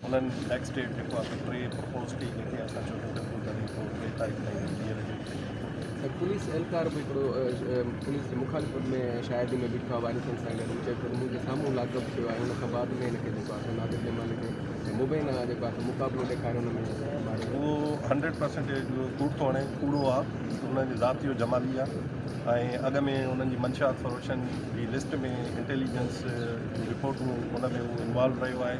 انهن next date جيڪو آسان ٽي پرپوز ڪئي جيڪي آسان چوٿين ٽڪو ڪري پوء ٽي تاريخ تائين ٻيهر جي ته پوليس اهلڪار به هڪڙو پوليس جي مخالفت ۾ شاهدي ۾ بيٺو آهي وارثن سان گڏ چئي ٿو ته منهنجي سامهون لاڪ اپ ٿيو آهي ان کان بعد ۾ هن کي جيڪو آسان نادر جمال کي مبين آهي جيڪو آسان مقابلو ڏيکاري ان ۾ ماري اهو هنڊريڊ پرسنٽيج ڪوڙ ٿو هڻي ڪوڙو آهي انهن جي ذات جو جمالي آهي ۽ اڳ ۾ انهن جي منشاء فروشن جي لسٽ ۾ انٽيليجنس رپورٽون ان ۾ انوالو رهيو آهي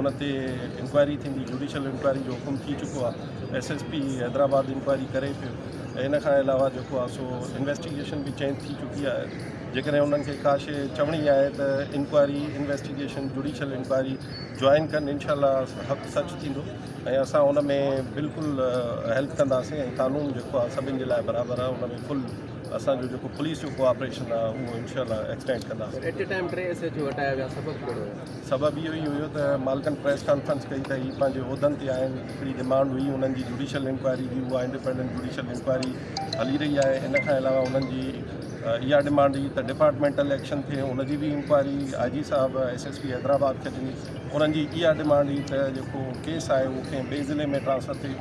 ان تي انڪوائري ٿيندي جوڊيشل انڪوائري جو حڪم ٿي چڪو آهي S S P Hyderabad inquiry ڪري پيو ۽ ان کان علاوه جيڪو آهي سو انويسٽيگيشن به چينج ٿي چڪي آهي جيڪڏهن انهن کي ڪا شيء چوڻي آهي ته inquiry investigation judicial inquiry join ڪن انشاء الله حق سچ ٿيندو ۽ اسان ان ۾ بلڪل هيلپ ڪنداسين ۽ قانون جيڪو آهي سڀني جي لاء برابر آهي ان ۾ فل اسانجو جيڪو پوليس جو ڪوآپريشن آهي اهو انشاء الله ايڪسٽينڊ ڪنداسين سبب اهو ئي هيو ته مالڪن پريس ڪانفرنس ڪئي ته هي پنهنجي عهدن تي آهن هڪڙي ڊمانڊ هئي انهن جي جوڊيشل انڪوائري جي اها انڊيپينڊنٽ جوڊيشل انڪوائري هلي رهي آهي ان کان علاوه انهن جي اها ڊمانڊ هئي ته ڊپارٽمينٽل ايڪشن ٿئي ان جي به انڪوائري آء جي صاحب ايس ايس پي حيدرآباد کي ڏني انهن جي اها ڊمانڊ هئي ته جيڪو ڪيس آهي اهو ڪنهن ٻئي ضلعي ۾ ٽرانسفر ٿئي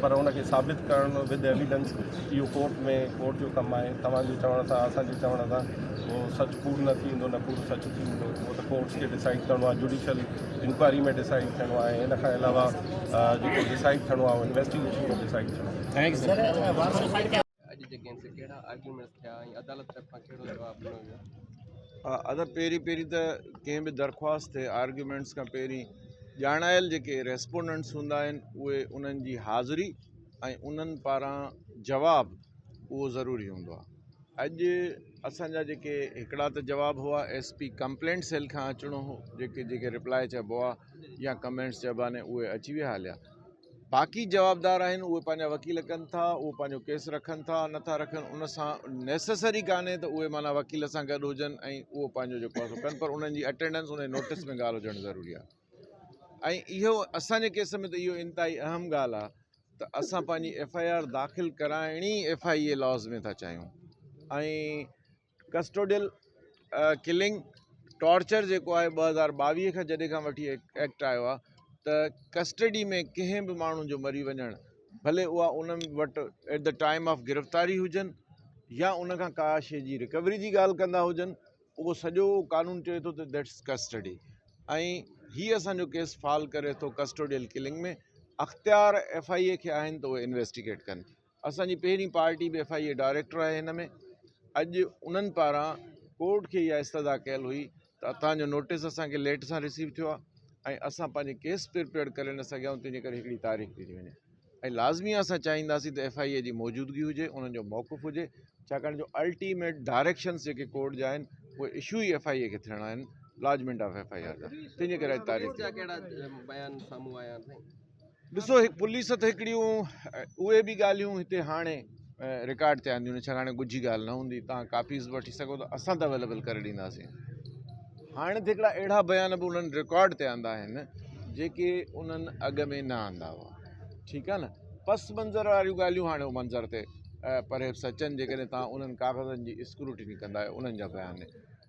پر ان کي ثابت ڪرڻ ود ايويڊنس اهو ڪورٽ ۾ ڪورٽ جو ڪم آهي توهان جي چوڻ سان اسان جي چوڻ سان اهو سچ پور نه ٿيندو نه پور سچ ٿيندو اهو ته ڪورٽس کي ڊسائيڊ ڪرڻو آهي جوڊيشل انڪوائري ۾ ڊسائيڊ ٿيڻو آهي ان کان علاوه جيڪو ڊسائيڊ ٿيڻو آهي انويسٽيگيشن ۾ ڊسائيڊ ٿيڻو آهي اڄ جي ڪيس تي ڪهڙا آرگيومينٽس ٿيا ۽ عدالت طرفان ڪهڙو جواب ڏنو ويو ادر پهرين پهرين ته ڪنهن به درخواست تي آرگيومينٽس کان پهرين ڄاڻايل جيڪي ريسپونڊنٽس هوندا آهن اهي انهن جي حاضري ۽ انهن پاران جواب اهو ضروري هوندو آهي اڄ اسان جا جيڪي هڪڙا ته جواب هئا ايس پي ڪمپلينٽ سيل کان اچڻو هو جيڪي جيڪي رپلاء چئبو آهي يا ڪمينٽس چئبا آهن اهي اچي ويا هليا باقي جوابدار آهن اهي پنهنجا وڪيل ڪن ٿا اهي پنهنجو ڪيس رکن ٿا نٿا رکن ان سان نيسيسري ڪانهي ته اهي معنيٰ وڪيل سان گڏ هجن ۽ اهو پنهنجو جيڪو آهي سو ڪن پر انهن جي اٽينڊنس انهن جي نوٽس ۾ ڳالهه هجڻ ضروري آهي ۽ اهو اسان جي ڪيس ۾ ته اهو انتهائي اهم ڳالهه آهي ته اسان پنهنجي ايف آء آر داخل ڪرائڻ ئي ايف آء اي لاز ۾ ٿا چاهيون ۽ ڪسٽوڊيل ڪلنگ ٽارچر جيڪو آهي ٻه هزار ٻاويهه کان جڏهن کان وٺي ايڪٽ آيو آهي ته ڪسٽڊي ۾ ڪنهن به ماڻهو جو مري وڃڻ ڀلي اها انهن وٽ ايٽ دا ٽائم آف گرفتاري هجن يا ان کان ڪا شيء جي رڪوري جي ڳالهه ڪندا هجن اهو سڄو قانون چئي ٿو ته ديٽس ڪسٽڊي ۽ هي اسانجو ڪيس فال ڪري ٿو ڪسٽوڊيل ڪلنگ ۾ اختيار ايف آء اي کي آهن ته اهي انويسٽيگيٽ ڪن اسان جي پهرين پارٽي به ايف آء اي ڊائريڪٽر آهي هن ۾ اڄ انهن پاران ڪورٽ کي اها استدا ڪيل هئي ته اتان جو نوٽيس اسان کي ليٽ سان رسيو ٿيو آهي ۽ اسان پنهنجي ڪيس پرپيئر ڪري نه سگهيا آهيون تنهنجي ڪري هڪڙي تاريخ ڏني وڃي ۽ لازمي آهي اسان چاهينداسين ته ايف آء اي جي موجودگي هجي انهن جو موقف هجي ڇاڪاڻ جو الٽيميٽ ڊائريڪشنس جيڪي ڪورٽ جا آهن اهي اشو ئي ايف آء اي کي ٿيڻا آهن lodgement of F I A R جا تنهنجي ڪري اڄ تاريخ ٿي ڏسو هڪ پوليس تھ هڪڙيون اهي به ڳالهيون هتي هاڻي رڪارڊ تي آنديون نھ ڇا هاڻي ڳجھي ڳالهه نھ هوندي توهان ڪاپيز به وٺي سگهو ٿا اسان تھ اويليبل ڪري ڏينداسين هاڻي تھ هڪڙا اهڙا بيان به انهن رڪارڊ تي آندا آهن جيڪي انهن اڳ ۾ نھ آندا هئا ٺيڪ آهي نھ پس منظر واريون ڳالهيون هاڻي منظر تي پرهيپس اچن جيڪڏهن توهان انهن ڪاغذن جي اسڪروٽني ڪندا انهن جا بيان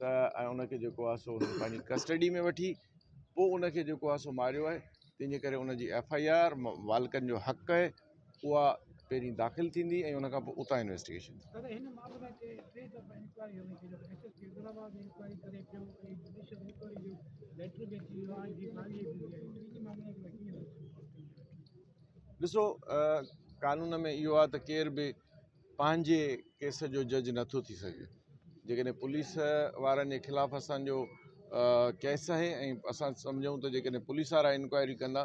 ته ۽ ان کي جيڪو آهي سو پنهنجي ڪسٽڊي ۾ وٺي پوء ان کي جيڪو آهي سو ماريو آهي تنهنجي ڪري ان جي ايف آئي آر والڪن جو حق آهي اها پهرين داخل ٿيندي ۽ ان کان پوء اتان انويسٽيگيشن ڏسو قانون ۾ اهو آهي ته ڪير به پنهنجي ڪيس جو جج نٿو ٿي سگهي جيڪڏهن پوليس وارن جي خلاف اسان جو ڪيس آهي ۽ اسان سمجهون ته جيڪڏهن پوليس وارا انڪوائري ڪندا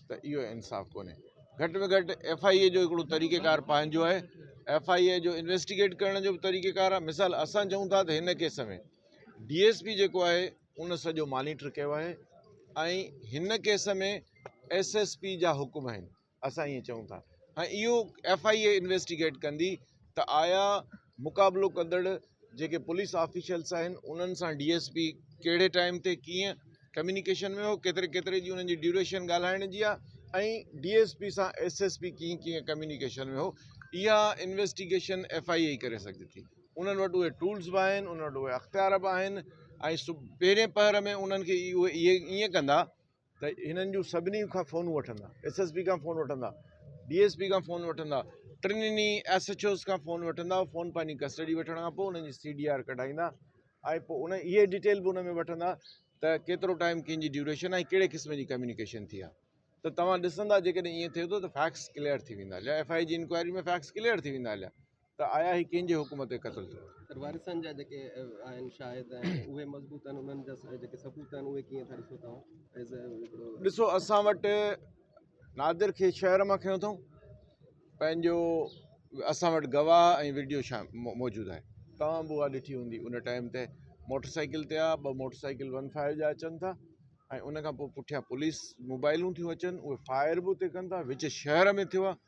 ته اهو انصاف ڪونهي گهٽ ۾ گهٽ ايف آء اي جو هڪڙو طريقه کار پنهنجو آهي ايف آء اي جو انويسٽيگيٽ ڪرڻ جو به طريقه کار آهي مثال اسان چون ٿا ته هن ڪيس ۾ ڊي ايس پي جيڪو آهي ان سڄو مانيٽر ڪيو آهي ۽ هن ڪيس ۾ ايس ايس پي جا حڪم آهن اسان ائين چئون ٿا ۽ اهو ايف آء اي انويسٽيگيٽ ڪندي ته آيا مقابلو ڪندڙ جيڪي پوليس آفيشلس آهن انهن سان ڊي ايس پي ڪهڙي ٽائيم تي ڪيئن ڪميونيڪيشن ۾ هو ڪيتري ڪيتري جي انهن جي ڊيوريشن ڳالهائڻ جي آهي ۽ ڊي ايس پي سان ايس ايس پي ڪيئن ڪيئن ڪميونيڪيشن ۾ هو اها انويسٽيگيشن ايف آء اي ڪري سگهجي ٿي انهن وٽ اهي ٽولس به آهن انهن وٽ اهي اختيار به آهن ۽ پهرين پهر ۾ انهن کي اهي ائين ڪندا ته هنن جون سڀني کان فونون وٺندا، ايس ايس پي کان فون وٺندا، ڊي ايس پي کان فون وٺندا، ٽنهي ايس ايڇ اوز کان فون وٺندا، اهي فون پنهنجي ڪسٽڊي وٺڻ کان پوء انهن جي سي ڊي آر ڪڍائيندا ۽ پوء ان اهي ڊيٽيل به ان ۾ وٺندا ته ڪيترو ٽائيم ڪنهن جي ڊيوريشن ۽ ڪهڙي قسم جي ڪميونيڪيشن ٿي آهي ته توهان ڏسندا جيڪڏهن ائين ٿئي ٿو ته فيڪٽس ڪليئر ٿي ويندا ايف آء اي جي انڪوائري ۾ فيڪٽس ڪليئر ٿي ويندا ته آيا هي ڪنهن جي حڪم تي قتل ٿيو. سر وارثن جا جيڪي آهن شاهد ۽ اهي مضبوط آهن انهن جا جيڪي ثبوت آهن اهي ڪيئن ٿا ڏسو توهان ايز اي هڪڙو. ڏسو اسان وٽ نادر کي شهر مان کنيو اٿئون پنهنجو اسان وٽ گواهه ۽ وڊيو موجود آهي توهان به اها ڏٺي هوندي ان ٽائيم تي موٽر سائيڪل تي آهي ٻه موٽر سائيڪل ون فائيو جا اچن ٿا ۽ ان کان پوء پٺيان پوليس موبائلون ٿيون اچن اهي فائر به اتي ڪن ٿا وچ شهر ۾ ٿيو آهي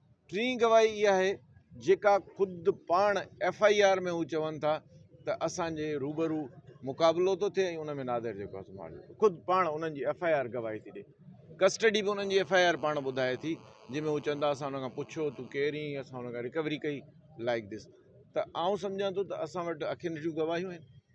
ٽين گواهي اها آهي جيڪا خود پاڻ ايف آء آر ۾ هو چون ٿا ته اسان جي روبرو مقابلو ٿو ٿئي ۽ ان ۾ نادر جيڪو آهي سو مارجو ٿو خود پاڻ انهن جي ايف آء آر گواهي ٿي ڏي ڪسٽڊي به انهن جي ايف آء آر پاڻ ٻڌائي ٿي جنهن ۾ هو چون ٿا اسان ان کان پڇيو تون ڪير ايئن اسان ان کان رڪوري ڪئي لائڪ دس ته آئون سمجهان ٿو ته اسان وٽ اکين ڏٺيون گواهيون آهن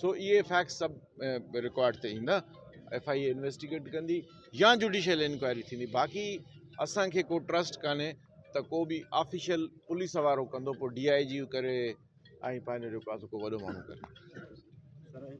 سو اهي فيڪٽس سڀ رڪارڊ تي ايندا ايف آء اي انويسٽيگيٽ ڪندي يا جوڊيشل انڪوائري ٿيندي باقي اسان کي ڪو ٽرسٽ ڪانهي ته ڪو به آفيشل پوليس وارو ڪندو پوء ڊي آء جي ڪري ۽ پنهنجو جيڪو آهي سو ڪو وڏو ماڻهو ڪري